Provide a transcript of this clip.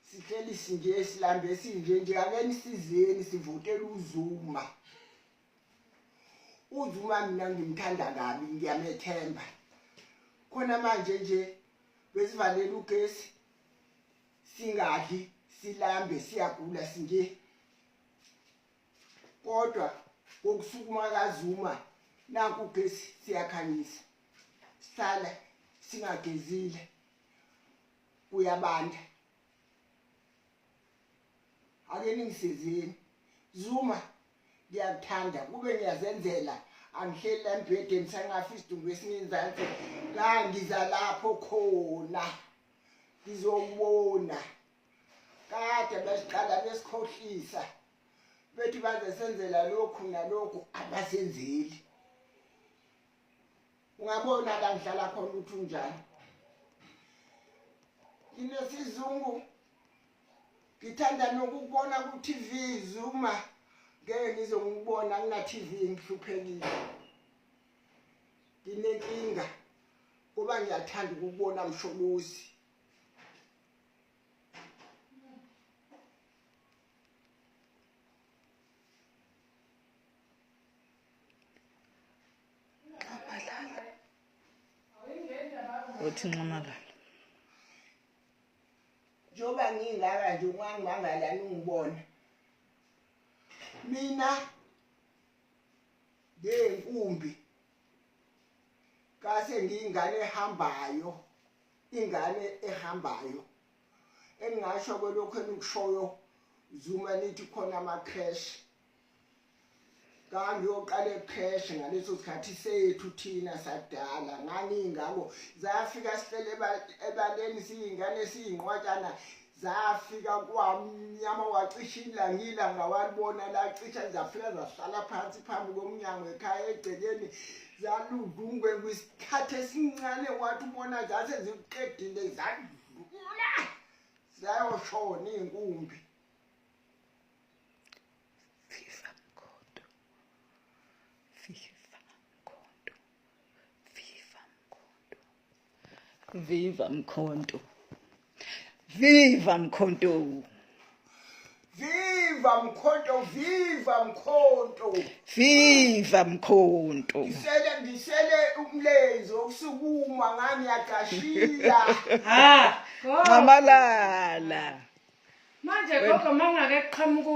sihleli sinje silambe sinje nje akeni sizeni sivotela uzuma uzuma mina ngimthanda kabi ngiyamethemba khona manje nje besivalele ugesi singadli silambe siyagula sinje kodwa kokusukuma kazuma naku ugesi siyakhanyisa sihlala singagezile kuyabanda ake ningisizini zuma ngiyakuthanda kube ngiyazenzela angihleli la mbhedeni sangafi isidumbu esingenzansi la ngiza lapho khona ngizowubona kade besiqala besikhohlisa bethi baze senzela lokhu nalokhu abasenzeli ungabona la ngihlala khona ukuthi unjani nginesizungu ngithanda nokubona ku-tv zuma ngeke ngize ngikubona ngina-tv ngihluphekile nginenkinga kuba ngiyathanda ukubona msholozi nxamalala uthi nxamalala njengoba ngingaka nje ungangibangala ningibona mina ngeyinkumbi kase ngiyingane ehambayo ingane ehambayo engingasho kwelokhu enikushoyo zuma nithi khona ama-crash kambi oqale pheshe ngaleso sikhathi sethu thina sadala nganingako zafika sihlele ebaleni siyingane siyinqwatshana zafika kwamnyama wacisha ilanga ilanga walibona lacisha zafika zahlala phansi phambi komnyango ekhaya egcekeni zaludungwe kwisikhathi esincane wathi ubona zase zikuqedile zadlula zayoshona iy'nkumbi Viva Mkhonto. Viva Mkhonto. Viva Mkhonto, viva Mkhonto. Viva Mkhonto. Ngisele ngisele umlenze okusukuma ngani yagashila. Ha. Ngamalala. Manje gogo mangake qhamuku